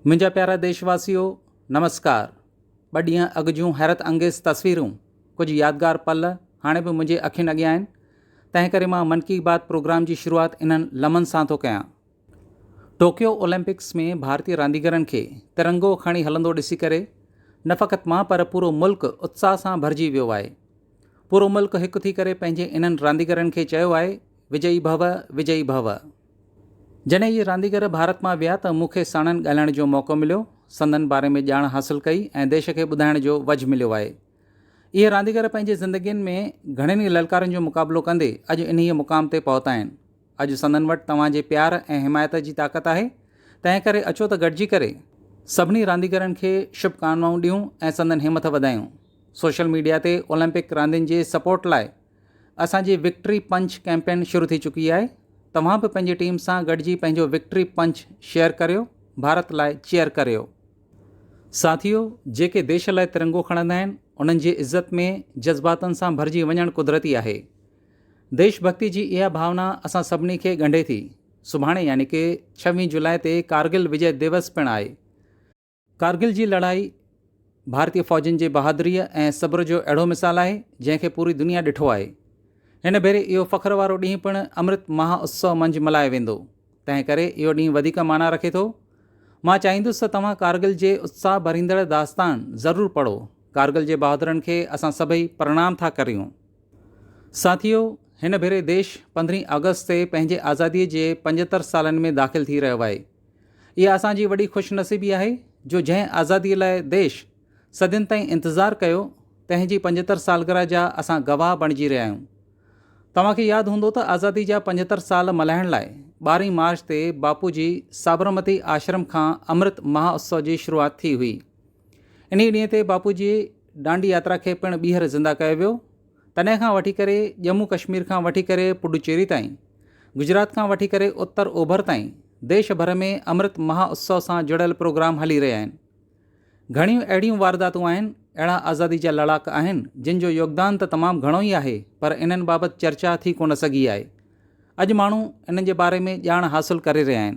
منهنجا پيارا ديش واسيو نمسڪار ٻه ڏينهن اڳ جون حيرت انگيز تصويرون ڪجهه يادگار پل هاڻي به منهنجي اکين اڳيان آهن تنهن ڪري مان من ڪي بات پروگرام جي شروعات انهن لمحن سان ٿو ڪيان ٽوڪيو اولمپڪس ۾ ڀارتي رانديگرن کي ترنگو کڻي هلندو ڏسي ڪري نه فقط مان پر پورو ملڪ اتساهه سان ڀرجي ويو آهي پورو ملڪ هڪ ٿي ڪري پنهنجي انهن رانديگرن کي چيو آهي وجئي ڀو وجئي ڀو جڏهن اهي رانديگر ڀارت مان ويا ته مون کي ساڻن ڳالهائڻ جو موقعو مليو، سندن باري ۾ ڄاڻ حاصل ڪئي ۽ ديش کي ٻڌائڻ جو وجهه مليو آهي. اهي رانديگر پنهنجي زندگين ۾ گهڻين ئي للڪارن جو مقابلو ڪندي اڄ انهيء مقام تي پهتا آهن. اڄ سندن وٽ توهان جي پيار ۽ حمايت جي طاقت آهي، تنهن ڪري اچو ته گڏجي ڪري سڀني رانديگرن کي شڀ ڪامنائون ڏيون ۽ سندن همٿ وڌايون. سوشل ميڊيا تي اولمپڪ راندين جي سپورٽ لاء اسان جي وڪٽري پنچ ڪيمپين شروع ٿي چڪي آهي توهان به پنهنجي ٽيم سان گڏجي پنهنجو وڪٽري پنچ شيئر ڪريو ڀارت لاء چيئر ڪريو. ساٿيو جيڪي ديش لاء ترنگو کڻندا آهن انهن جي عزت ۾ جذباتن سان ڀرجي وڃڻ قدرتي آهي. ديش ڀڳتي جي اها ڀاونا اسان سڀني کي ڳنڍي ٿي. سڀاڻي يعني ڪي ڇويهين جولاء تي ڪارگل وجئه ديوس پڻ آهي. ڪارگل جي لڙائي ڀارتي فوجين جي بهادريء ۽ صبر جو اهڙو مثال آهي، جنهن کي پوري دنيا ڏٺو آهي. هن ڀيري اهو فخر وارو ڏينهن پڻ امرت مها اتسو منجهه ملهايو ويندو، تنهن ڪري اهو ڏينهن وڌيڪ معنيٰ رکي ٿو. مان چاهيندس ته توهان ڪارگل جي اتساهه ڀريندڙ داستان ضرور پڙهو. ڪارگل جي بهادرن کي اسان سڀئي پرڻام ٿا ڪريون. ساٿيو! هن ڀيري ديش پندرهين آگسٽ تي پنهنجي آزاديء جي پنجهتر سالن ۾ داخل ٿي رهيو آهي. اها اسان جي وڏي خوش نصيبي آهي جو جنهن آزادي لاء ديش صدين تائين انتظار ڪيو تنهن جي پنجهتر سالگرهه جا اسان گواهه بڻجي رهيا آهيون. توهان کي ياد هوندو ته آزادي جا پنجهتر سال ملهائڻ لاء ٻارهين مارچ تي باپو جي سابرمتي آشرم کان امرت مها اتسو جي شروعات ٿي هئي. انهي ڏينهن تي باپو جي ڏانڊي ياترا کي پڻ ٻيهر زنده ڪيو ويو. تڏهن کان وٺي ڪري ڄمون ڪشمير کان وٺي ڪري پڊوچيري تائين، گجرات کان وٺي ڪري اتر اوڀر تائين ديش ڀر ۾ امرت مها اتسو سان جڙيل پروگرام هلي رهيا آهن. گهڻيون اهڙيون وارداتون آهن، اهڙا آزادي جا لڙاڪ آهن جن جو يوگدان ته تمام گهڻو ئي آهي پر انهن بابت چرچا ٿي ڪونه سگهي آهي. اڄ ماڻهو انهن جي باري ۾ ڄاڻ حاصل ڪري رهيا آهن.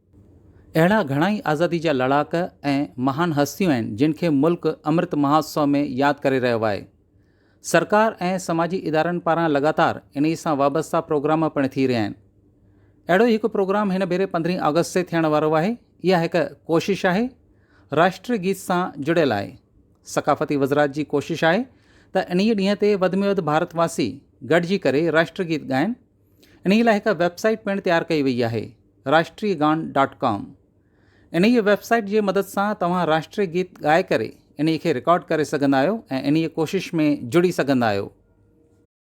اهڙا گهڻا ئي آزادي جا لڙاڪ ۽ مهان هستيون آهن جن کي ملڪ امرت مهوتسو ۾ ياد ڪري رهيو آهي. سرڪار ۽ سماجي ادارن پاران لڳاتار انهي سان وابسته پروگرام پڻ ٿي رهيا آهن. اهڙو ئي هڪ پروگرام هن ڀيري پندرهين آگسٽ تي ٿيڻ وارو آهي. اها هڪ ڪوشش آهي راشٽري گيت سان جڙيل آهي. ثقافتي وزرات جي ڪوشش آهي ته انهي ڏينهن تي وڌ ۾ وڌ ڀارت واسي گڏجي ڪري راشٽري گيت ڳائن. انهيء لاء هڪ ويب سائيٽ پڻ تيار ڪئي وئي آهي راشٽري گان ڊاٽ ڪام. انهيء ويب سائيٽ جي مدد سان توهان راشٽري گيت ڳائي ڪري انهيء کي رڪارڊ ڪري سگهندا آهيو ۽ انهيء ڪوشش ۾ جڙي سگهندا آهيو.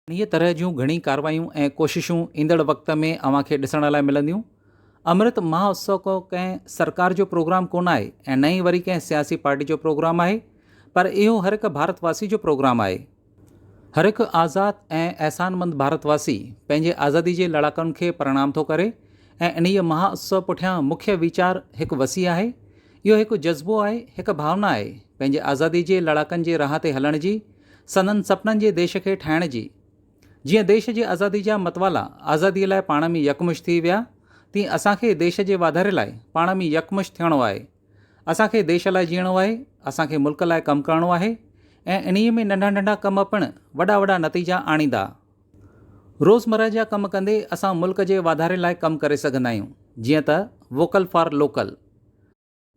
انهيء طرح جون گهڻي ڪاروايون ۽ ڪوششون ايندڙ وقت ۾ اوهان کي ڏسڻ لاء ملنديون. امرت مهااتسو ڪو ڪنهن سرڪار جو پروگرام ڪونه آهي ۽ نه ئي وري ڪنهن سياسي پارٽي جو پروگرام آهي پر اهو هر هڪ ڀارت واسي جو پروگرام آهي. هر هڪ آزاد ۽ احسانمند ڀارت واسي پنهنجي آزادي جي لڙاڪن کي پرڻام ٿو ڪري ۽ انهيء مها اتسو پٺيان مکيه ويچار هڪ وسيع آهي. اهو هڪ جذبو آهي، هڪ ڀاونا آهي، پنهنجي آزادي جي لڙاڪن جي راهه تي هلڻ جي، سندن سپنن جي ديش کي ٺاهڻ جي. جيئن ديش جي آزادي جا متوالا آزاديء لاء پاڻ ۾ يڪمش ٿي ويا، تيئن اسان کي ديش جي واڌاري لاء پاڻ ۾ يڪمش ٿيڻو آهي. اسان کي ديش لاء جيئڻو آهي، اسان کي ملڪ لاء ڪم ڪرڻو آهي ۽ انهيء ۾ ننڍا ننڍا ڪم پڻ وڏا وڏا نتيجا آڻيندا. روزمره جا ڪم ڪندي اسان ملڪ جي واڌاري لاء ڪم ڪري سگهندا آهيون جيئن ته ووڪل فار لوڪل.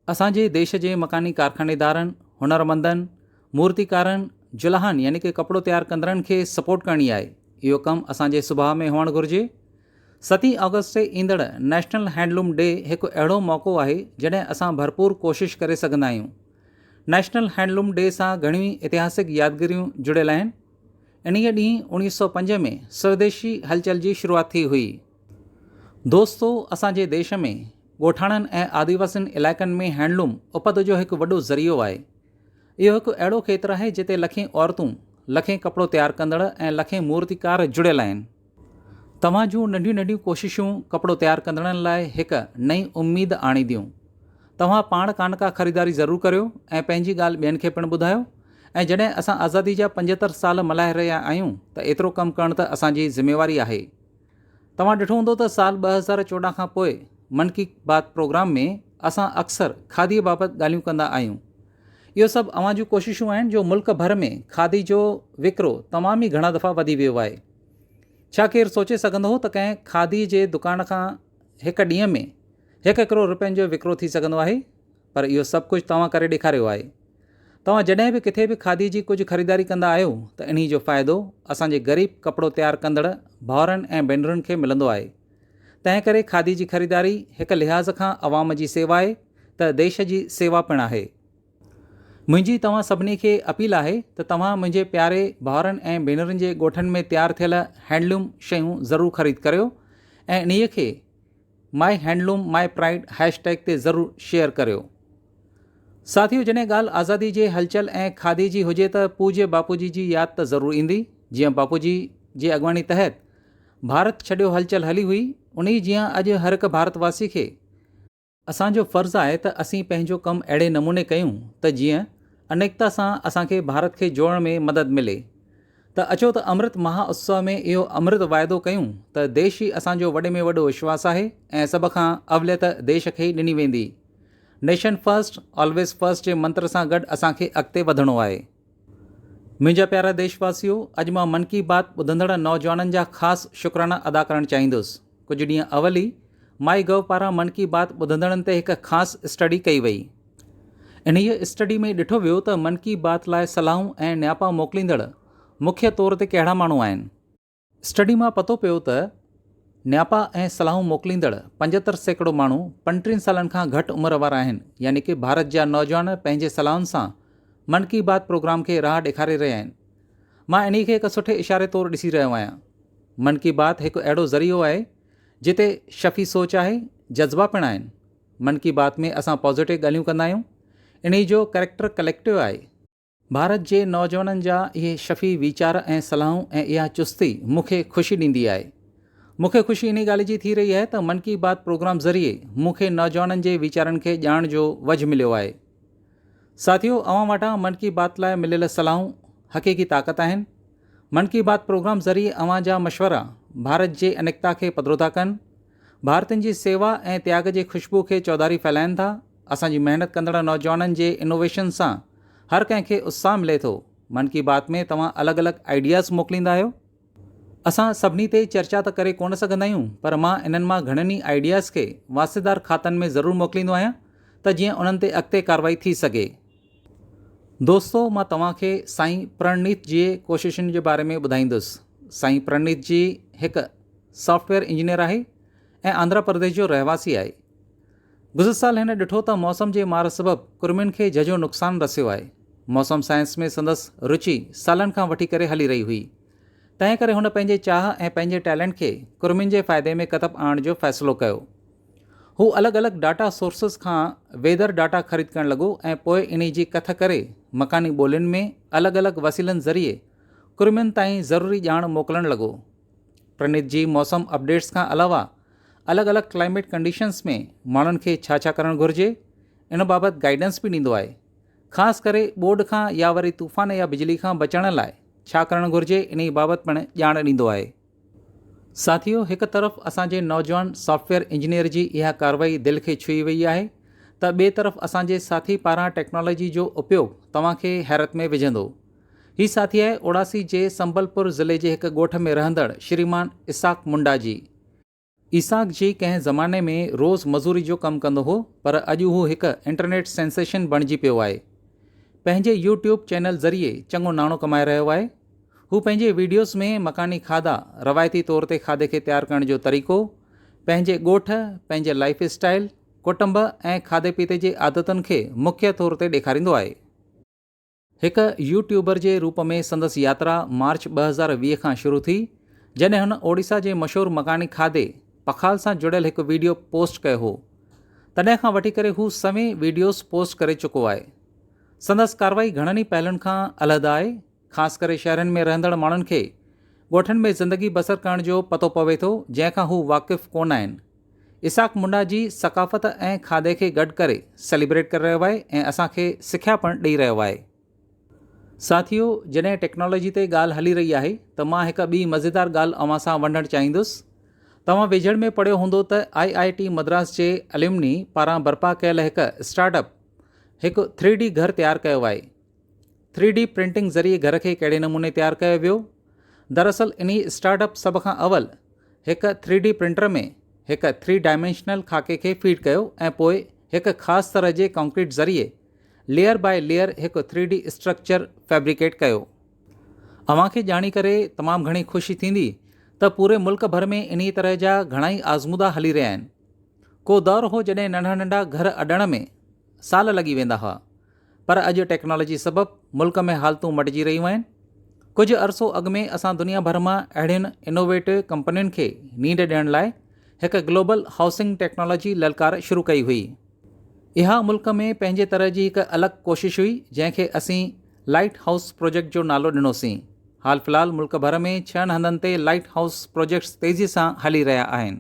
اسان جي ديش جي مڪاني ڪارخانيدارن، هنرمندن، مورتيڪارن، جلاهن يعني ڪي ڪپڙو تيار ڪندڙن کي سپورٽ ڪرڻي آهي، اهو ڪم اسان جي سڀاء ۾ هئڻ گهرجي. ستين آگسٽ تي ايندڙ نيشنل هينڊلوم ڊي هڪ اهڙو موقعو آهي جڏهن اسان ڀرپور ڪوشش ڪري سگهندا آهيون. نيشنل هينڊلوم ڊي سان گهڻيون ئي اتهاسڪ يادگيريون جڙيل آهن. انهيء ڏينهن اوڻيهه سؤ پنج ۾ سوديشي هلچل جي شروعات ٿي هئي. دوستو اسان جي ديش ۾ ڳوٺاڻن ۽ آديواسين علائقن ۾ هينڊلوم اپت جو هڪ وڏو ذريعو آهي. اهو هڪ اهڙو کيتر آهي جتي لکين عورتون، لکين ڪپڙو تيار ڪندڙ ۽ لکين مورتيڪار جڙيل آهن. توهان جون ننڍيون ننڍيون ڪوششون ڪپڙو تيار ڪندڙن لاء هڪ نئين اميد آڻينديون. توهان پاڻ ڪانه ڪا خريداري ضرور ڪريو ۽ پنهنجي ڳالهه ٻين کي پڻ ٻڌايو ۽ جڏهن اسان آزادي جا پنجهتر سال ملهائي رهيا آهيون ته ايترو ڪم ڪرڻ ته اسان جي ذميواري آهي. توهان ڏٺو هوندو ته سال ٻه هزار چوڏهن کان پوء من ڪي بات پروگرام ۾ اسان اڪثر کاڌي بابت ڳالهيون ڪندا آهيون. اهو سڀ اوهان جون ڪوششون آهن جو ملڪ ڀر ۾ کاڌي جو وڪرو تمام ئي گهڻا دفعا وڌي ويو آهي. ڇا ڪير سوچي سگهندو هو ته ڪنهن کاڌي جي دڪان کان هڪ ڏينهن ۾ هڪ هڪرو روپين جو وڪرو ٿي سگهندو آهي پر اهو سڀ ڪجهه توهان ڪري ڏيکاريو آهي. توهان جڏهن به ڪٿي به کاڌي جي ڪجهه خريداري ڪندا آهيو ته انهي جو فائدو اسان جي غريب ڪپڙو تيار ڪندڙ ڀائرن ۽ ڀينرن کي ملندو آهي تنهن ڪري کاڌي جي خريداري هڪ لحاظ کان عوام جي سيوا آهي ته ديش جي سيوا پڻ آهي. منهنجي توهان سڀني کي اپيل آهي ته توهان منهنجي پياري ڀائرن ۽ ڀينرن جي ڳوٺن ۾ تيار ٿيل هينڊلوم شيون ضرور خريد ڪريو ۽ انهيء کي MyHandloomMyPride هيش ٽيگ تي ضرور شيئر ڪريو. ساٿيو جڏهن ڳالهه آزادي جي هلچل ۽ کاڌي جي هجي ته پوڄي باپوجي جي ياد ته ضرور ايندي جيئن باپوجي جي اڳواڻي تحت ڀارت ڇڏيو هلچل هلي هئي انهي جيئن اڄ هرهڪ ڀارت واسي کي اسان جو فرض آهي ته اسين پنهنجو ڪم اهڙي نموني ڪيون ته جيئن انيڪتا سان اسان کي ڀارت کي جوڙڻ ۾ مدد ملي ته اچو ته امرت مها اتسو ۾ اهو امرت واعدو ڪيون ته ديش ئي اسان جو وڏي ۾ وڏو وشواس آهي ۽ سڀ کان اوليت ديش کي ئي ڏني ويندي نيشن فرسٽ آلويز فرسٽ جي منتر سان گڏ اسان کي اڳتي وڌڻو آهي منهنجا پيارا ديش واسيو اڄ مان من ڪي بات ٻڌندڙ نوجوانن جا خاص شڪرانا ادا ڪرڻ چاهيندس ڪجهه ڏينهن اول ئي مائي گو پاران من ڪي بات ٻڌندڙن تي هڪ خاص اسٽڊي ڪئي وئي. انهيء اسٽڊي ۾ ڏٺو ويو ته من ڪي بات لاء صلاحون ۽ نياپا موڪليندڙ مکيه طور تي ڪهڙا ماڻهو آهن. اسٽڊي مان پتو پيو ته نياپا ۽ صلاحون موڪليندڙ پنجهتر سيڪڙو ماڻهو پنٽيهن سالن کان گهٽ عمر وارا آهن يعني ڪي ڀارت جا نوجوان پنهنجي صلاحن سان من ڪي بات پروگرام کي راهه ڏيکاري رهيا آهن. مان انهي کي هڪ سٺي اشاري طور ڏسي رهيو آهيان. من ڪي بات هڪ اهڙو ذريعو آهي جتي شفي سوچ آهي، جذبا پڻ آهن. من ڪي بات ۾ اسان پازيٽو ڳالهيون ڪندا آهيون. انهي جو ڪريڪٽر ڪليڪٽو آهي. ڀارت جي نوجوانن جا اهي شفي ويچار ۽ صلاحون ۽ اها چستي مون کي خوشي ڏيندي آهي. مون کي خوشي انهي ڳالهه جي ٿي رهي آهي ته من ڪي بات پروگرام ذريعي مون کي نوجوانن جي ويچارن کي ڄاڻڻ جو وجهه مليو آهي. ساٿيو اوهان وٽان من ڪي بات لاء مليل صلاحون حقيقي طاقت آهن، من ڪي بات پروگرام ذريعي اوهان جا مشورا ڀارت جي انيڪتا کي پڌرو ٿا ڪن، ڀارتين جي سيوا ۽ تياڳ جي خوشبو کي چوڌاري ڦهلائين ٿا، اسان جي محنت ڪندڙ نوجوانن جي انوويشن سان هر ڪنهن کي اتساهه ملي ٿو، من ڪي بات ۾ توهان الڳ الڳ آئيڊياز موڪليندا آهيو، اسان سڀني تي چرچا ته ڪري ڪونه سگهندا آهيون پر مان انهن مان گهڻن ئي آئيڊياز کي واسطيدار کاتن ۾ ضرور موڪليندو آهيان ته جيئن انهن تي اڳتي ڪارروائي ٿي سگهي. دوستو مان توهان کي سائين پرڻنيت جي ڪوششن جي باري ۾ ٻڌائيندس. سائين پرڻنيت جي هڪ سافٽويئر انجنيئر آهي ۽ آنڌرا پرديش جو رهواسي آهي. گذريل سال هن ڏٺو ته موسم جي مار سبب ڪرمين کي جهجهو نقصان رسيو آهي. موسم سائنس ۾ سندس روچي سالن کان وٺي ڪري هلي رهي هئي. تنهن ڪري هن پنهنجي چاهه ۽ پنهنجي ٽيلنٽ کي ڪرمين جي فائدي ۾ ڪتب آڻڻ جو فيصلو ڪيو. هو الڳ الڳ ڊاٽا سورسز کان ويڌر ڊاٽا خريد ڪرڻ لڳو ۽ پوء انهي جي ڪٿ ڪري مڪاني ٻولين ۾ الڳ الڳ وسيلن ذريعي ڪرمين تائين ضروري ڄاڻ موڪلڻ لڳو. پرنيت جي موسم اپڊيٽس کان علاوه الڳ الڳ ڪلائميٽ ڪنڊيشنز ۾ ماڻهن کي ڇا ڇا ڪرڻ گهرجي ان بابت گائيڊنس به ڏيندو آهي خاص ڪري ٻوڏ کان يا وري طوفان يا بجلي کان بچڻ لاء ڇا ڪرڻ گهرجي انهي بابت پڻ ڄاڻ ڏيندو آهي. ساٿيو هڪ طرف اسان جي نوجوان سافٽويئر انجنيئر جي اها ڪارروائي دل کي ڇهي وئي آهي ته ٻئي طرف اسان جي ساٿي پاران ٽيڪنالاجي جو اپيوگ توهان کي حيرت ۾ وجهندو هي ساٿي آهي اوڙاسي جي سنبل پور ضلعي جي هڪ ڳوٺ ۾ رهندڙ شريمان اسحاق منڊا جي. اسحاق جي ڪنهن زماني ۾ روز مزوري جو ڪم ڪندو هو پر اڄ هو هڪ انٽرنيٽ سينسيشن بڻجي پيو آهي. پنهنجي يو ٽيوب چينل ذريعي چڱو ناڻو ڪمائي رهيو آهي. هو پنهنجي ويڊيوز ۾ مڪاني کاڌا، روايتي طور تي کاڌي کي تيار ڪرڻ جو طريقو، پنهنجي ڳوٺ، پنهنجي لائيف اسٽائيل، ڪٽنب ۽ کاڌي پيتي جي عادتن کي مکيه طور تي ڏيکاريندو آهي. هڪ يوٽيوبر جي روپ ۾ سندس ياترا مارچ ٻه هزار ويهه کان شروع ٿي، جڏهن هن اوڙيسا جي مشهور مڪاني کاڌي پخال سان جڙيل هڪ ويڊيو پوسٽ ڪيو هو. تڏهن کان وٺي ڪري هو سوين ويڊيوز پوسٽ ڪري چڪو آهي. سندس ڪارروائي گهڻن ئي پهلون کان علحده آهي، خاص ڪري شهرن ۾ رهندڙ ماڻهن کي ڳوٺن ۾ زندگي بسر ڪرڻ جو پتو پوي ٿو، جنهن کان هو واقف ڪونه آهن. اسحاق منڊا جي ثقافت ۽ کاڌي کي گڏ ڪري سيليبريٽ ڪري رهيو آهي ۽ اسان کي سکيا پڻ ڏئي رهيو آهي. ساٿيو جڏهن ٽيڪنالاجي تي ڳالهه هلي رهي آهي ته مان هڪ ٻي مزيدار ڳالهه اوهان سان ونڊڻ چاهيندس. توهان ويجهڙ ۾ پڙهيو هوندو ته آء آء ٽي مدراس جي اليمني پاران برپا ڪيل هڪ اسٽارٽ اپ هڪ ٿري ڊي گهر تيار ڪيو آهي. ٿري ڊي پرنٽنگ ذريعي گهر کي ڪهڙي نموني تيار ڪيو ويو؟ دراصل انهي اسٽارٽ اپ سڀ کان اول هڪ ٿري ڊي پرنٽر ۾ هڪ ٿري ڊائمينشنل خاڪي کي فيڊ ڪيو ۽ پوء هڪ خاص طرح جي ڪانڪريٽ ذريعي ليئر باء ليئر هڪ ٿري ڊي اسٽرڪچر فيبريڪيٽ ڪيو. اوهان کي ڄاڻي ڪري تمام گهڻي خوشي ٿيندي ته پوري ملڪ ڀر ۾ انهي طرح جا گهڻائي آزمودا هلي رهيا آهن. ڪو دور هو جڏهن ننڍا ننڍا گهر اڏڻ ۾ سال لڳي ويندا هئا. پر اڄ ٽيڪنالاجي سبب ملڪ ۾ حالتون مٽجي رهيون آهن، ڪجهه عرصو اڳ ۾ اسان دنيا ڀر مان اهڙين انوويٽو ڪمپنين کي نينڊ ڏيڻ لاء هڪ گلوبل هائوسنگ ٽيڪنالاجي للڪار شروع ڪئي هئي، اها ملڪ ۾ پنهنجي طرح جي هڪ الڳ ڪوشش هئي جنهن کي اسين لائيٽ هائوس پروجيڪٽ جو نالو ڏنوسين، حال في الحال ملڪ ڀر ۾ ڇهن هنڌن تي لائيٽ هائوس پروجيڪٽس تيزي سان هلي رهيا آهن.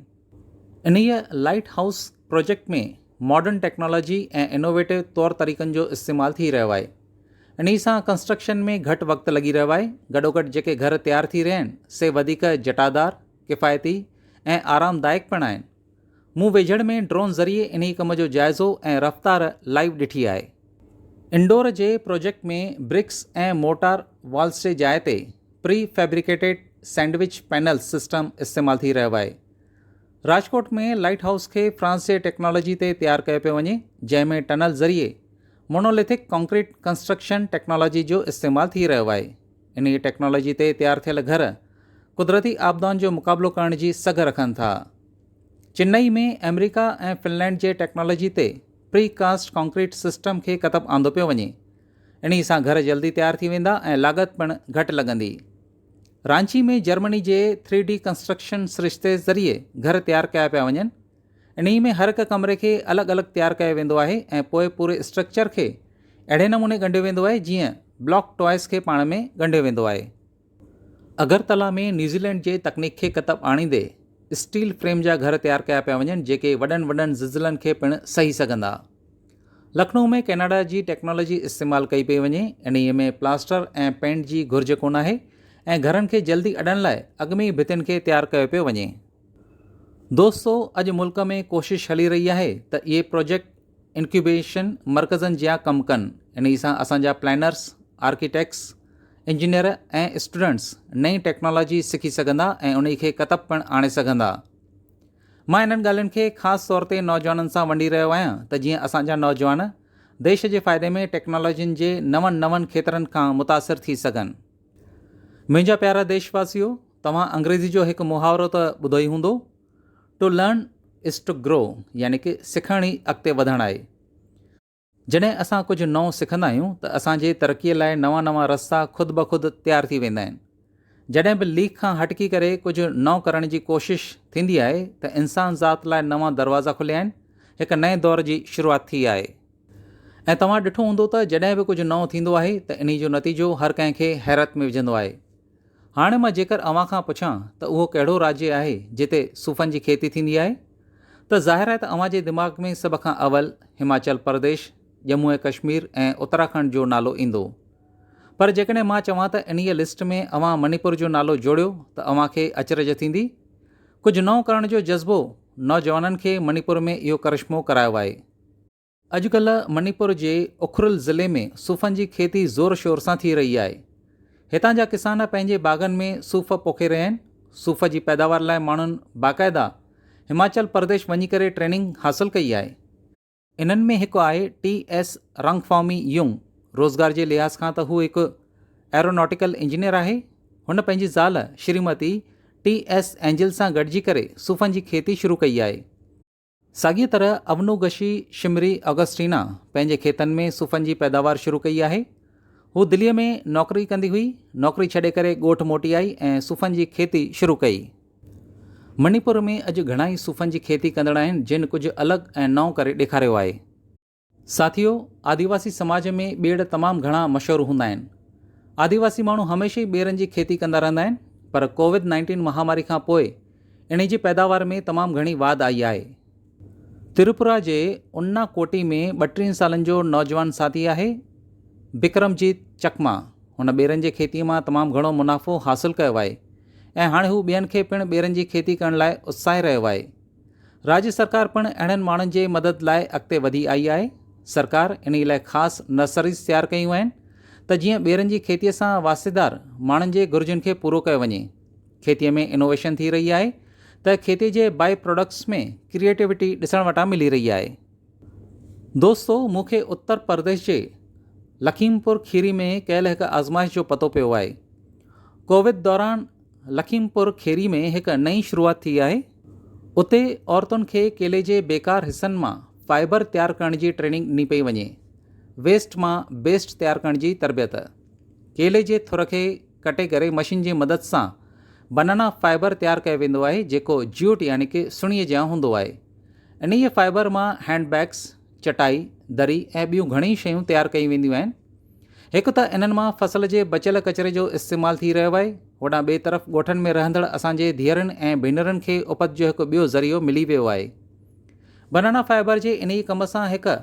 انهيء lighthouse project ۾ modern technology ۽ innovative طور طريقن جو استعمال ٿي رهيو آهي انهي سان ڪنسٽرڪشن ۾ گهٽ وقت لڳي رهيو آهي گڏوگڏ جيڪي گهر تيار ٿي رهيا آهن سي وڌيڪ جٽادار ڪفايتي ۽ آرام دائق پڻ آهن مون ويجهڙ ۾ ڊرون ذريعي انهي ڪم جو جائزو ۽ رفتار لائيو ڏٺي آهي انڊور جي پروجيڪٽ ۾ برڪس ۽ مورٽار والز جي جاء تي پري فيبريڪيٽيڊ سينڊوچ پينلز سسٽم استعمال ٿي رهيو آهي راجڪوٽ ۾ لائيٽ هائوس کي فرانس جي ٽيڪنالاجي تي تيار ڪيو پيو وڃي جنهن ۾ ٽنل ذريعي مونوليٿڪ ڪانڪريٽ ڪنسٽرڪشن ٽيڪنالاجي جو استعمال ٿي رهيو آهي انهي ٽيڪنالاجي تي تيار ٿيل گهر قدرتي آپدائن جو مقابلو ڪرڻ جي سگهه رکن ٿا چنئي ۾ آمريڪا ۽ فنلينڊ جي ٽيڪنالاجي تي پري ڪاسٽ ڪانڪريٽ سسٽم کي ڪتب آندو پيو وڃي انهي سان گهر جلدي تيار ٿي ويندا ۽ لاڳت پڻ گهٽ لڳندي رانچي ۾ جرمني جي ٿري ڊي ڪنسٽرڪشن سرشتي ذريعي گهر تيار ڪيا پيا وڃن انهي ۾ هر هڪ ڪمري کي الڳ الڳ تيار ڪيو ويندو آهي ۽ پوء پوري اسٽرڪچر کي اهڙي نموني ڳنڍيو ويندو آهي جيئن بلاڪ ٽوائس کي پاڻ ۾ ڳنڍيو ويندو آهي. اگرتلا ۾ نيوزيلينڊ جي تڪنيڪ کي ڪتب آڻيندي اسٽيل فريم جا گهر تيار ڪيا پيا وڃن جيڪي وڏن وڏن زلزلن کي پڻ سهي سگهندا. لکنؤ ۾ ڪئناڊا جي ٽيڪنالاجي استعمال ڪئي پئي وڃي، انهيء ۾ پلاسٽر ۽ پينٽ جي گهرج ڪوناهي ۽ گهرن کي جلدي اڏڻ لاء اڳ ۾ ئي ڀتين کي تيار ڪيو پيو وڃي. دوستو اڄ ملڪ ۾ ڪوشش هلي رهي آهي ته اهي پروجيڪٽ انڪيوبيشن مرڪزن جيان ڪم ڪن، انهي سان اسان جا پلانرز، آرڪيٽيڪٽس، انجنيئر ۽ اسٽوڊنٽس نئين ٽيڪنالاجي سکي سگهندا ۽ انهي کي ڪتب پڻ آڻي سگهندا. مان انهن ڳالهين کي خاص طور تي نوجوانن سان ونڊي رهيو آهيان ته جيئن اسان جا نوجوان ديش جي فائدي ۾ ٽيڪنالاجين جي نون نون کيترن کان متاثر ٿي سگهن. منهنجا پيارا ديش واسيو توهان انگريزي جو هڪ محاورو ته ٻڌو ئي هوندو To learn is to grow يعني ڪه سکڻ ئي اڳتي وڌڻ آهي. جڏهن اسان ڪجهه نئون سکندا آهيون ته اسان جي ترقي لاء نوان نوان رستا خود بخود تيار ٿي ويندا آهن. جڏهن به ليڪ کان هٽڪي ڪري ڪجهه نئون ڪرڻ جي ڪوشش ٿيندي آهي ته انسان ذات لاء نوان دروازا کليا آهن، هڪ نئين دور جي شروعات ٿي آهي. ۽ توهان ڏٺو هوندو ته جڏهن به ڪجهه نئون ٿيندو آهي ته انهي جو نتيجو هر ڪنهن کي حيرت ۾ وجهندو آهي. هاڻي مان جيڪر اوهان کان پڇان ته اهو ڪهڙو راجي آهي جتي صوفن جي کيتي ٿيندي آهي ته ظاهر آهي ته اوهان جي دماغ ۾ سڀ کان اول هماچل پرديش، ڄمون ۽ ڪشمير ۽ اتراکنڊ جو نالو ايندو. پر جيڪڏهن مان چوان ته انهيء لسٽ ۾ اوهان منيپور جو نالو جوڙيو ته اوهان کي اچرج ٿيندي؟ ڪجهه نئون ڪرڻ جو جذبو نوجوانن کي منيپور ۾ اهو ڪرشمو ڪرايو آهي. اڄڪلهه منيپور جي اکرل ضلعي ۾ صوفن جي کيتي زور شور سان ٿي رهي آهي. هتان جا ڪسان پنهنجي باغن ۾ صوف پوکي رهيا آهن. صوف جي پيداوار لاء ماڻهن باقاعده هماچل پرديش وڃي ڪري ٽريننگ حاصل ڪئي آهي. انهن ۾ هڪ آهي ٽي ايس رانگفامي يونگ. روزگار جي لحاظ کان ته هو هڪ ايروناٽيڪل انجنيئر آهي. هن پنهنجي زال شريمتي ٽي ايس اينجل سان گڏجي ڪري صوفن جي کيتي شروع ڪئي آهي. ساڳيء طرح اونوگشي شمري آگسٽينا پنهنجي کيتن ۾ صوفن جي پيداوار شروع ڪئي آهي. هوء دليء ۾ نوڪري ڪندي هئي، نوڪري ڇڏي ڪري ڳوٺ موٽي آئي ۽ صوفن جي کيتي شروع ڪئي. مڻيپور ۾ اڄ گهڻائي صوفن جي کيتي ڪندڙ آهن جن ڪجهه الڳ ۽ نئون ڪري ڏيکاريو آهي. ساٿيو، آديواسي سماج ۾ ٻيڙ تمام گهڻا مشهور هوندا آهن. آديواسي ماڻهو هميشه ئي ٻيرن جي کيتي ڪندا رهندا آهن، پر ڪووڊ نائنٽين مهاماري کان پوء انهي جي پيداوار ۾ تمام گهڻي واڌ آئي آهي. تريپورا جي انا ڪوٽي ۾ ٻٽيهن سالن جو نوجوان ساٿي آهي بڪرم جيت چڪما، هن ٻيرن جي کيتي مان تمام گهڻو منافعو حاصل ڪيو آهي ۽ هاڻي هو ٻين کي پڻ ٻيرن جي کيتي ڪرڻ لاء اتساهي رهيو آهي. راڄ سرڪار پڻ اهڙن ماڻهن جي مدد لاء اڳتي وڌي آئي آهي. سرڪار انهي لاء خاص نرسريز تيار ڪيون آهن ته جيئن ٻيرن جي کيتي سان واسطيدار ماڻهن جي گهرجن کي پورو ڪيو وڃي. کيتي ۾ انوويشن ٿي رهي آهي ته کيتي جي بائي پراڊڪٽس ۾ ڪريئيٽيوٽي ڏسڻ وٽان ملي رهي آهي. دوستو مون کي اتر پرديش جي لکيم پور کيري ۾ ڪيل هڪ آزمائش جو پتو پيو آهي. ڪوويد دوران لکيم پور کيري ۾ هڪ نئين شروعات ٿي آهي، اتي عورتن کي ڪيلي جي بيڪار حصن مان فائبر تيار ڪرڻ جي ٽريننگ ڏني پئي وڃي، ويسٽ مان بيسٽ تيار ڪرڻ جي تربيت، ڪيلي جي ٿر کي ڪٽي ڪري مشين جي مدد سان بنانا فائبر تيار ڪيو ويندو آهي جيڪو جيوٽ يعني ڪه سڻي جيان هوندو آهي، انهيء فائبر مان هينڊ بيگس، چٽائي، دري ۽ ٻيون گهڻيئي شيون تيار ڪيون وينديون آهن. هڪ ته انهن مان فصل جي بچيل ڪچري جو استعمال ٿي رهيو آهي، هوڏانهن ٻئي طرف ڳوٺن ۾ رهندڙ اسان جي ڌيئرن ۽ ڀينرن کي اپت جو هڪ ٻيو ذريعو ملي ويو آهي. بنانا فائبر جي انهي ڪم سان هڪ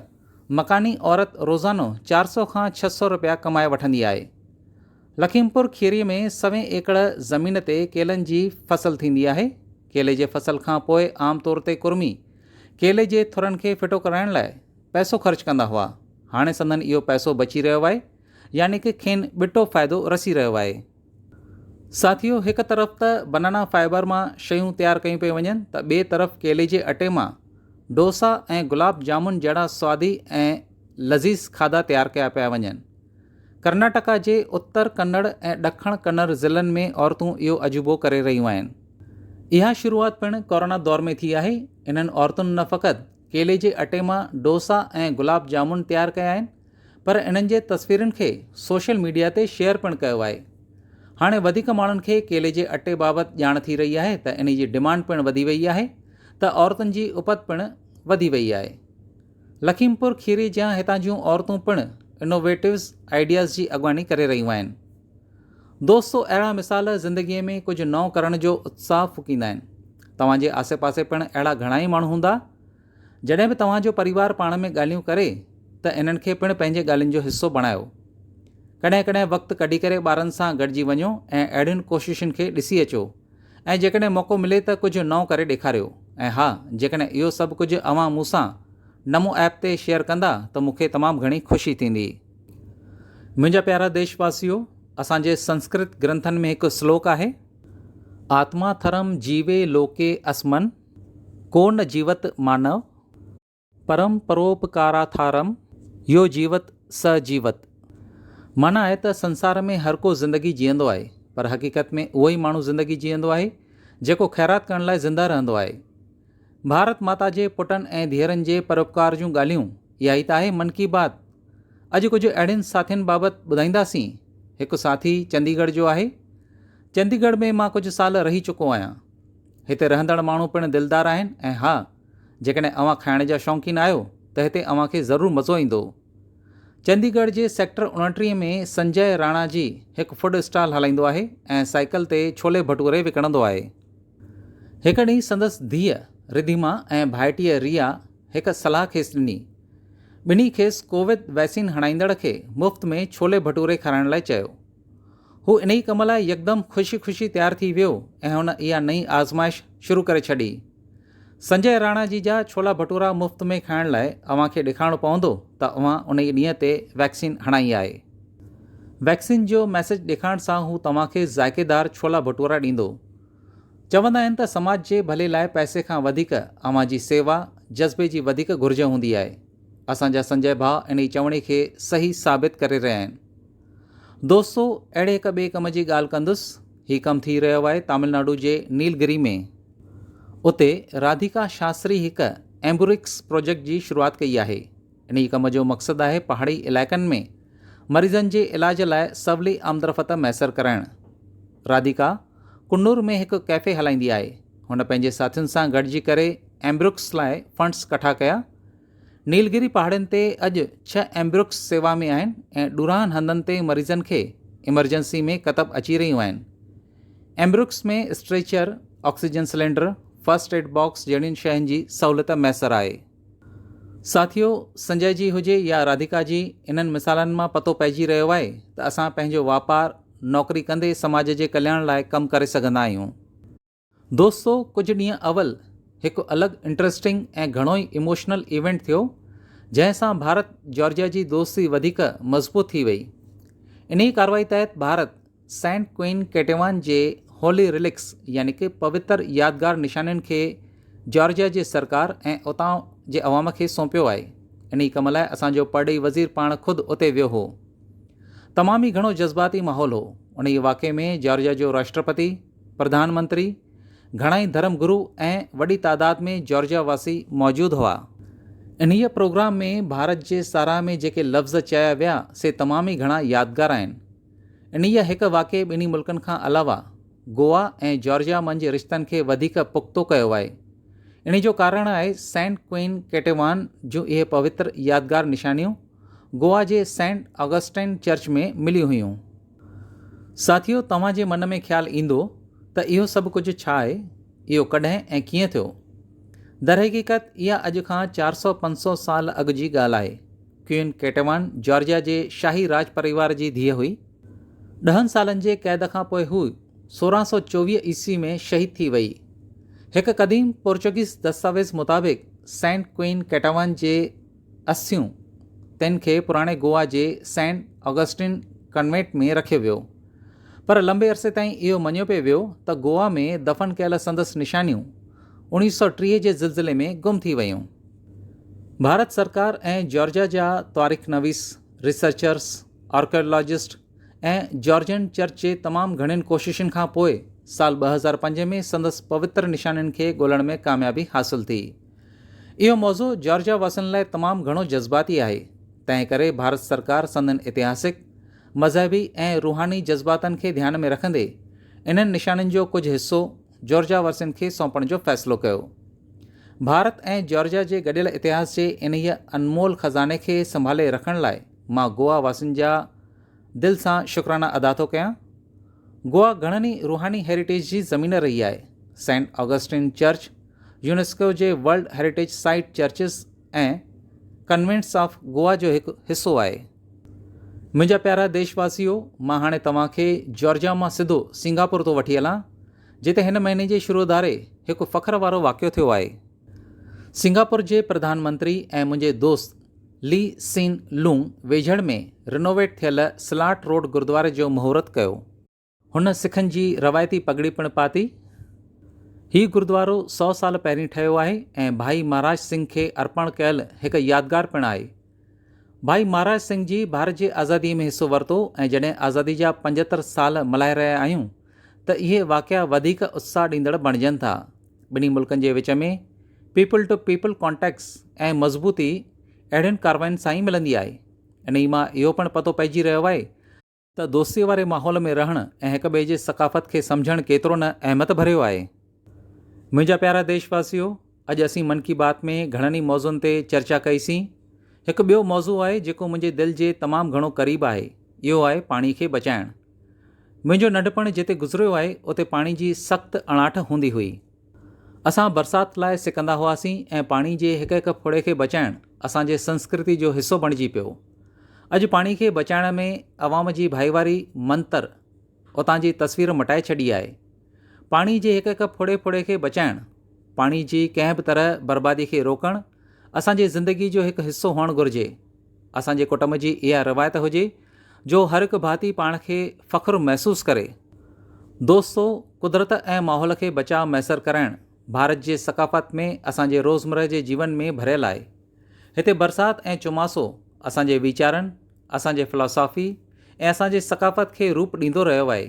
مڪاني عورت روزانو چار سؤ کان ڇهه سؤ رپيا ڪمائي وٺندي آهي. لکيم پور کيري ۾ سوين ايڪڙ زمين تي ڪيلن جي فصل ٿيندي آهي. ڪيلي جي فصل کان پوء عام طور تي ڪرمي ڪيلي جي ٿرن کي ڦٽو ڪرائڻ لاء پئسو خرچ ڪندا هئا، هاڻي سندن اهو پئسو بچي رهيو آهي، يعني ڪه کين ٻٽو فائدو رسي رهيو آهي. ساٿيو هڪ طرف ته بنانا فائبر مان شيون تيار ڪيون پيون وڃن ته ٻئي طرف ڪيلي جي اٽي مان ڊوسا ۽ گلاب جامن جهڙا سوادي ۽ لذيذ کاڌا تيار ڪيا پيا وڃن. ڪرناٽڪا جي اتر ڪنڙ ۽ ڏکڻ ڪنر ضلعن ۾ عورتون اهو عجوبو ڪري رهيون آهن. اها شروعات پڻ ڪورونا دور ۾ ٿي آهي، انهن عورتن نه فقط ڪيلي جي اٽي مان ڊوسا ۽ گلاب جامن تيار ڪيا آهن پر انهن جي تصويرن کي سوشل ميڊيا تي شيئر پڻ ڪيو آهي هاڻي وڌيڪ ماڻهن کي ڪيلي جي اٽي بابت ڄاڻ ٿي رهي آهي ته انهي جي ڊمانڊ پڻ وڌي وئي آهي ته عورتن جي اپت پڻ وڌي وئي آهي لکيم پور کيري جيان هتان جون عورتون پڻ انوويٽوز آئيڊياز جي اڳواڻي ڪري رهيون آهن دوستو اهڙا مثال زندگيء ۾ ڪجهه نئون ڪرڻ جو اتساهه ڦوڪيندا آهن. توهان جي آسي پاسي پڻ اهڙا گهڻا ئي ماڻهو هوندا. جڏهن به توهان جو پريوار پاڻ ۾ ڳالهيون ڪري ته انهن کي پڻ پنهنجي ڳالهين جو حصو بڻايو. ڪڏهن ڪڏهن وقت ڪڍي ڪري ٻارن سان گڏجي وڃو ۽ اهڙين ڪوششن کي ڏسي اچو ۽ جيڪڏهن موقعو ملي ته ڪجهه نئون ڪري ڏيکاريو ۽ ها جيڪڏهن اهو سڀ ڪجهه اوهان مون سان نمو ايپ تي شيئر ڪندا ته مون کي تمام گهڻي خوشي ٿيندي. منهنجا پيارا ديش واسيو اسان جي سنسڪرت گرنٿن ۾ هڪ سلوڪ آهي آتما ٿرم جيوي لوڪي اسمن ڪو نه جيوت مانو پرم پروپڪاراٿارم يو جيوت س جيوت معنيٰ آهي ته سنسار ۾ هر ڪو زندگي جيئندو آهي پر حقيقت ۾ اهو ئي ماڻهو زندگي جيئندو آهي جيڪو خيرات ڪرڻ لاء زنده رهندو آهي ڀارت ماتا جي پٽن ۽ ڌيئرن جي پروپڪار جون ڳالهيون اها ئي ته آهي من ڪي بات. اڄ ڪجهه اهڙين ساٿين بابت ٻڌائينداسين. هڪ ساٿي چندي ڳڙهه جو آهي. چندي ڳڙهه ۾ مان ڪجهه سال رهي چڪو آهيان. هتي رهندڙ ماڻهو پڻ دلدار آهن ۽ ها جيڪڏهن اوهان کائڻ جا شوقين آهيو ته هتي اوهان کي ضرور مزو ايندو. چندي ڳڙهه جي سيڪٽر اوڻٽيهه ۾ سنجئه راڻا جي هڪ فوڊ اسٽال هلائيندو آهي ۽ سائيڪل تي ڇولي ڀٽوري وڪڻندو آهي. هڪ ڏينهن سندس ڌيء رڌيما ۽ ڀائٽيء ريا هڪ صلاح کيس ڏني. ٻنهي کيس ڪوويد وئسين هڻائيندڙ کي مفت ۾ ڇولي ڀٽوري کارائڻ لاء چيو. هو انهي ڪم لاء يڪدم خوشي خوشي تيار ٿي ويو ۽ هن اها نئين آزمائش شروع ڪري ڇڏي. سنجئه راڻا جي جا ڇولا ڀٽورا مفت ۾ کائڻ لاء اوهان کي ڏيکارڻو پوندو ته اوهان انهي ڏينهن تي وئڪسين هڻائي آهي. وئڪسين جو ميسج ڏيکارڻ سان هو توهان کي ذائقيدار ڇولا ڀٽورا ڏيندو. چوندا آهن ته سماج جي ڀلي لاء پئسي کان وڌيڪ اوهان جي سيوا جذبي جي وڌيڪ گهرج هوندي آهي. اسان جا سنجئه ڀاء انهي چوڻي کي صحيح ثابت ڪري رهيا آهن. دوستو اهڙي هڪ ٻئي ڪم جي ڳالهه ڪندس. هي ڪم ٿي رهيو آهي تامل ناڊو جي نيل گري ۾. اتي راڌيڪا شاستري هڪ ايمبورڪس پروجيڪٽ جي شروعات ڪئي آهي. انهيء ڪم جو مقصد آهي پهاڙي علائقن ۾ مريضن جي علاج لاء سولي آمدرفت ميسر ڪرائڻ. راڌيڪا ڪنور ۾ هڪ ڪيفي هلائيندي آهي. هن پنهنجي ساٿين سان گڏجي ڪري ايمبرڪس لاء فنڊز ڪٺا ڪيا. نيل گري پهاڙين تي اڄ ڇهه ايمبرڪس سيوا ۾ آهن ۽ ڏورانهن هنڌن تي مريضن کي ايمرجنسي ۾ ڪتب اچي رهيون آهن. ايمبرڪس ۾ stretcher, oxygen cylinder, first aid box جهڙين شين جي سهولت ميسر آهي. ساٿيو، سنجئه جي هجي يا راڌيڪا جي، انهن مثالن مان پتو پئجي رهيو آهي ته اسان پنهنجو واپار، نوڪري ڪندي سماج جي ڪلياڻ لاء ڪم ڪري سگهندا آهيون. دوستو ڪجهه ڏينهن اول هڪ الڳ انٽرسٽنگ ۽ گهڻو ئي ايموشنل ايونٽ ٿيو جنهن سان ڀارت جارجيا جي دوستي وڌيڪ مضبوط ٿي وئي انهي ڪارروائي تحت ڀارت، سينٽ ڪوئين ڪيٽيوان جي هولي ريلڪس يعني ڪه پوتر يادگار نشانين کي جارجيا جي سرڪار ۽ اتان جي عوام کي سونپيو آهي. انهي ڪم لاء اسان جو پرڏيهي وزير پاڻ خود اتي ويو هو. تمام ئي گهڻو جذباتي ماحول هو. انهي واقعي ۾ جارجيا جو راشٽرپتي، پرڌان منتري، گهڻا ئي ڌرم گرو ۽ وڏي تعداد ۾ جارجيا واسي موجود هئا. انهي پروگرام ۾ ڀارت جي ساراهه ۾ جيڪي لفظ چيا ويا سي تمام ئي گهڻا يادگار آهن. انهيء هڪ واقعي ٻنهي ملڪن کان علاوه گوا ۽ جارجيا منجهه رشتن کي وڌيڪ پختو ڪيو آهي. انهيء جو ڪارڻ آهي سينٽ ڪوئين ڪيٽيوان جون اهي پوتر يادگار نشانيون گوا جي سينٽ آگسٽائن چرچ ۾ مليون هيون. ساٿيو توهان جي من ۾ خيال ايندو ته اهو سڀ ڪجهه ڇا آهي؟ اهو ڪڏهن ۽ ڪيئن ٿيو؟ درحقيقت اها اڄ کان چار سؤ پنج سؤ سال اڳ جي ڳالهه آهي. ڪوئين ڪيٽيوان جارجيا جي شاهي راڄ پريوار جي ڌيء هئي. ڏهن سالن جي قيد کان پوء هوء سورهن سؤ چوويهه عيسوي ۾ شهيد ٿي ويئي. هڪ قديم پورچوگيز دستاويز مطابق سينٽ ڪوئين ڪيٽيوان جي اسٿيون تن کي پراڻي گوا جي سينٽ آگسٽين ڪنوينٽ ۾ رکيو ويو. پر لنبي عرصي تائين اهو مڃيو پئي ويو ته گوا ۾ دفن ڪيل سندس نشانيون اوڻيهه سؤ ٽيهه جي زلزلي ۾ گم ٿي ويون. ڀارت سرڪار ۽ جارجيا جا تاريخ نويس، ريسرچرز، آرڪيالاجسٽ ۽ جارجين چرچ جي تمام گهڻين ڪوششن کان پوء سال ٻه هزار پنج ۾ سندس پوتر نشانين کي ڳولڻ ۾ ڪاميابي حاصل ٿي. اهو موضوع جارجيا واسين لاء تمام گهڻو جذباتي آهي، تنهن ڪري ڀارت سرڪار سندن اتهاسڪ، مذهبي ۽ روحاني جذباتن کي ڌيان ۾ رکندي انهن نشانين جو ڪجهه حصو، جارجيا ورثين کي سونپڻ جو فيصلو ڪيو. ڀارت ۽ جارجيا جي گڏيل اتهاس جي انهيء انمول خزاني کي سنڀالي رکڻ لاء مان گوا واسين جا دل سان شڪرانا ادا ٿو ڪيان. گوا گهڻن ئي روحاني هيريٽيج جي زمين رهي آهي. سينٽ آگسٽين چرچ، يونيسڪو جي world heritage site churches ۽ convents of Goa جو هڪ حصو آهي. منهنجا پيارا ديش واسيو مان هاڻي توهان کي جارجيا مان سڌو سنگاپور ٿو وٺي هلان جتي هن مهيني جي شروع ڌاري هڪ فخر وارو واقعو ٿيو آهي. سنگاپور جي پرڌان منتري ۽ منهنجي دوست لي سين لونگ ويجهڙ ۾ رنوويٽ ٿيل سلاٽ روڊ گردواري جو مهورت ڪيو. هن سکن جي روايتي پڳڙي پڻ پاتي. هي گردوارو سؤ سال پهرين ٺهيو آهي ۽ ڀائي مهاراج سنگهه کي ارپڻ ڪيل هڪ يادگار پڻ آهي. ڀائي مهاراج سنگهه جي ڀارت جي آزادي ۾ حصو ورتو ۽ جڏهن آزادي جا پنجهتر سال ملهائي رهيا آهيون ته اهي واقعا وڌيڪ اتساهه ڏيندڙ بڻجن ٿا. ٻنهي ملڪن جي وچ ۾ پيپل ٽو پيپل ڪانٽيڪٽس ۽ مضبوطي اهڙين ڪارواين سان ئي ملندي آهي. انهي مان اهو پڻ پتو پئجي رهيو آهي ته ته دوستيء واري ماحول ۾ رهڻ ۽ هڪ ٻئي جي ثقافت کي سمجهڻ ڪيترو نه اهميت ڀريو آهي. منهنجا پيارا ديش واسيو، اڄ اسين من ڪي بات ۾ گهڻن ئي موضوعن تي چرچا ڪئي سين. هڪ ٻيو موضوع آهي جيڪو منهنجي دل جي تمام گهڻو قريب آهي، اهو آهي پاڻي کي بچائڻ. منهنجو ننڍپڻ جتي گذريو آهي اتي پاڻي جي سخت اڻاٺ هوندي هئي. اسان برسات لاء سڪندا هئاسين ۽ پاڻي جي هڪ هڪ ڦڙي کي بچائڻ اسان جي سنسڪرتي جو حصو بڻجي پيو. اڄ پاڻي کي بچائڻ ۾ عوام جي ڀائيواري منتر اتان جي تصوير مٽائي ڇڏي آهي. پاڻي جي هڪ هڪ ڦڙي ڦڙي کي بچائڻ، پاڻي جي ڪنهن به طرح بربادي کي روڪڻ اسان جي زندگي جو هڪ حصو هئڻ گهرجي. اسان جي ڪٽنب جي اها روايت هجي جو هر هڪ ڀاتي پاڻ کي فخر محسوس ڪري. دوستو قدرت ۽ ماحول کي بچاء ميسر ڪرائڻ ڀارت جي ثقافت ۾ اسان جي روزمره جي جيون ۾ ڀريل آهي. هتي برسات ۽ چوماسو اسان جي ويچارن، اسان جي فلاسافي ۽ اسان جي ثقافت کي روپ ڏيندو رهيو آهي.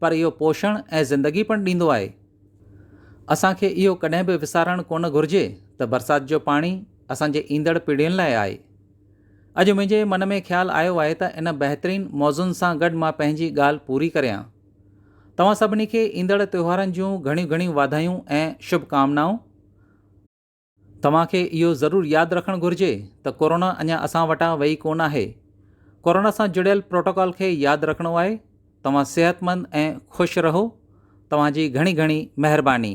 پر اهو پوشڻ ۽ زندگي پڻ ڏيندو آهي. اسان کي اهو ڪڏهن به وسارڻ ڪونه گهرجي ته برسات جو پاڻي اسان جي ايندڙ پيڙهين لاء آهي. اڄ منهنجي من ۾ خيال آيو آهي ته ان بهترين موضوعن سان گڏ مان پنهنجي ڳالهه پوري ڪريان. توهان سڀني کي ايندڙ تهوارن جون گهڻيون گهڻيون واڌايون ۽ شڀ ڪامنائون. توهان کي اهو ضرور ياد رکڻ گهرجي ته ڪورونا اڃا اسان وٽان وئي ڪونه آهي. ڪورونا سان جڙيل پروٽوڪال کي ياد رکڻو آهي. توهان صحتمند ۽ خوش رهو. توهان جي گهڻي گهڻي مهرباني.